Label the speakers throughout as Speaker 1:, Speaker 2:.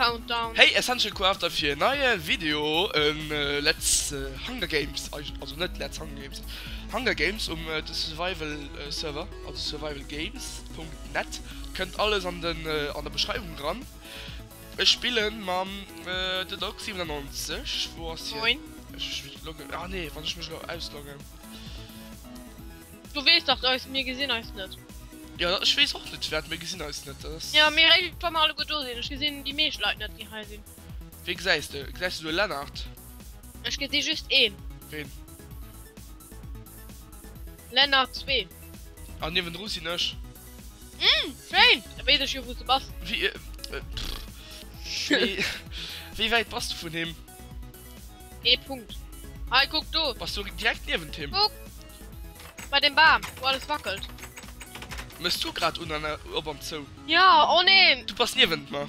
Speaker 1: Countdown. Hey Essential
Speaker 2: Crafter fir en neie Video um Let's Hunger Games, also net Let's Hunger Games, Hunger Games um de Survival Server, also survivalgames.net. Kënnt alles an den an der Beschreiwung dran. Ech spillen mam The Dog 97, wou ass hien? Moin. Ech loggen, ah nee, wann ech mech elo ausloggen.
Speaker 1: Du wees dach eis mir gesinn eis net. Ja ech wees
Speaker 2: och net wat mir gesinn eis net ass. Ja mee ech wa mer alleguer
Speaker 1: do sinn ech gesinn déi meescht Leit net déi hei sinn. Wee gesäis de?
Speaker 2: Gesäis de do e Lennart? Ech gesi
Speaker 1: just een. Ween? Lennart zwee. An niewendru
Speaker 2: sinn ech. Umm
Speaker 1: schéin, da wees ech jo wou s de bass. Wéi pff
Speaker 2: wéi wäit bass de vun him? Ee
Speaker 1: Punkt. Hei kuck do. Bass du direkt niewent
Speaker 2: him? Kuck.
Speaker 1: Bei dem Bam, wou alles wackelt. Mes
Speaker 2: du grad un an op an zou? Ja, oh nee!
Speaker 1: Du bass niewent mer.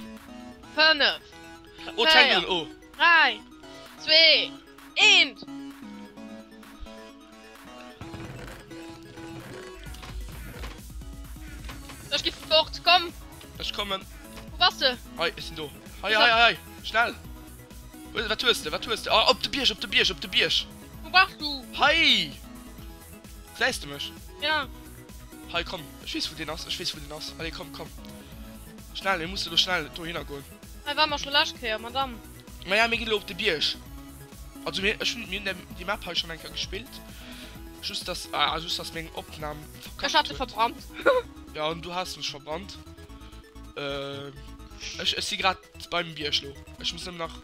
Speaker 1: 5
Speaker 2: Oh, d'fänkt un, oh! 3,
Speaker 1: 2, 1. Ech gi fort, komm! Ech kommen.
Speaker 2: Wou bass de?
Speaker 1: Hei, ech sinn do.
Speaker 2: Hei, hei, hei, hei! Schnell! Wat hues de, wat hues de? Oh, op de Bierg, op de Bierg, op de Bierg!
Speaker 1: Wou bass du? Hei!
Speaker 2: Gesäis de mech? Ja.
Speaker 1: Hei, komm.
Speaker 2: Ech weess, wou deen ass. Ech weess, wou deen ass. Allez, komm, komm. Schnell, mir musse elo schnell dohinner goen. Hei ware mer scho d'lescht
Speaker 1: Kéier, Madame. Maja, mir ginn elo op
Speaker 2: de Bierg. Also, mir, ech hunn, mir hunn déi, déi Map hei schonn eng Kéier gespillt. Just dass, ah, just dass meng Opnam verkackt huet. Ech hat se verbrannt.
Speaker 1: Ja, an du
Speaker 2: has se mech verbrannt. Ech, ech si grad beim Bierg elo. Ech muss nëmmen nach.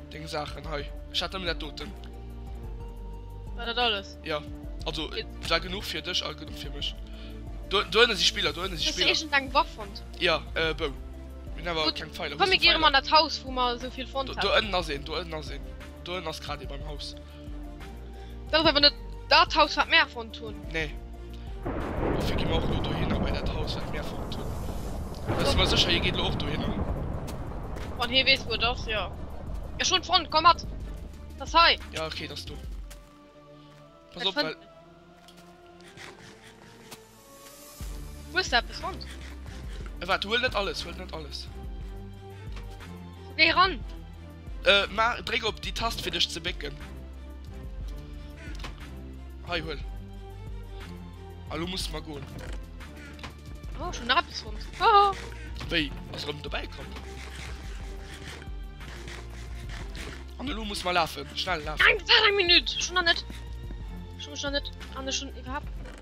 Speaker 2: Deng Saachen hei. Ech hat nëmmen dat doten.
Speaker 1: War dat alles? Ja. Also,
Speaker 2: et war genuch fir dech a genuch fir mech. Do, do ënne si Spiller, do ënne si Hues du Spiller. éischtens eng
Speaker 1: Waff fonnt? Ja, äh, Bou.
Speaker 2: Mir hunn awer Gutt, keng Pfeiler. Wou komm, mir si gehe erëm an Pfeiler? dat Haus, wou
Speaker 1: mer esou vill fonnt Do, do haten. ënnen ass een, do ënnen
Speaker 2: ass een. Do ënnen ass grad ee beim Haus.
Speaker 1: Dat ass awer net dat Haus, wat mir erfonnt hunn. Nee.
Speaker 2: Dofir gi mer och lo dohinner, bei dat Haus, wat mir erfonnt hunn. Da si mer sécher, hie geet lo och dohinner.
Speaker 1: Wann hie weess, wou et ass, jo. Ech hunn et fonnt, komm mat! Et ass hei! Ja, okay, et ass do. Pass op,
Speaker 2: well.
Speaker 1: Hues de eppes fonnt? Äh wat? Huel
Speaker 2: net alles, huel net alles.
Speaker 1: Géi ran! Äh ma
Speaker 2: dréck op déi Tast fir dech ze bécken. Hei huel. A lo musse mer goen.
Speaker 1: Oh, schon nach eppes fonnt. Hoho! Wéi? Ass
Speaker 2: erëm dobäi komm. An elo muss mer lafen. Schnell lafen. Nein, wart eng Minüt! Schon
Speaker 1: nach net. Schon, schon net. An ech schon iwwerhaapt.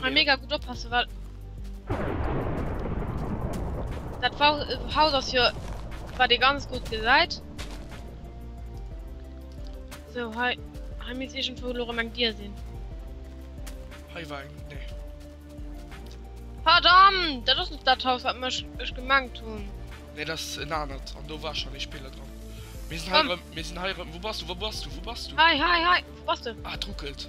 Speaker 1: Mal mega gut oppassen, weil... Dat äh, Haus ass jo war de ganz gut gesäit. So hei hei mis egent vu Lorem eng Dir sinn.
Speaker 2: Hei war eng nee.
Speaker 1: Verdammt! Dat ass net dat Haus wat mech ech gemengt hunn. Nee dat ass en
Speaker 2: anert an do war schon e Spiller dran. Mir sinn hei mir sinn hei wo bass du wo bass du wo bass du? Hei hei hei wo bass du?
Speaker 1: Ah, et ruckelt.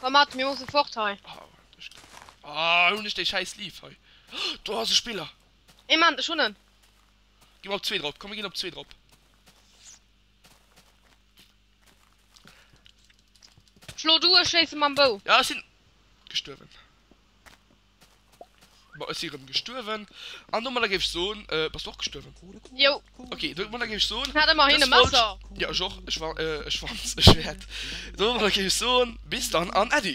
Speaker 2: Komm
Speaker 1: mat, mir musse fort hei. Oh, waart, ech ginn.
Speaker 2: Oh, hunn ech dee schäi Sleeve hei. Do ass e Spiller. Ee Moment, ech hunn
Speaker 1: en. Gi mer op
Speaker 2: zwee drop, komm, mir ginn op zwee drop.
Speaker 1: Schlo du, ech schéisse mam Bou. Ja, ech sinn
Speaker 2: gestuerwen. Bon, ech si rëm gestuerwen. An domadder géif ech soen, äh, bass du och gestuerwen? Jo. Okay,
Speaker 1: domadder géif
Speaker 2: ech soen. Hat ëmmerhin e Messer.
Speaker 1: Jo, ech och.
Speaker 2: Ech wa-, äh, ech wann, ech wäert. Domadder géif ech soen, bis dann an Äddi!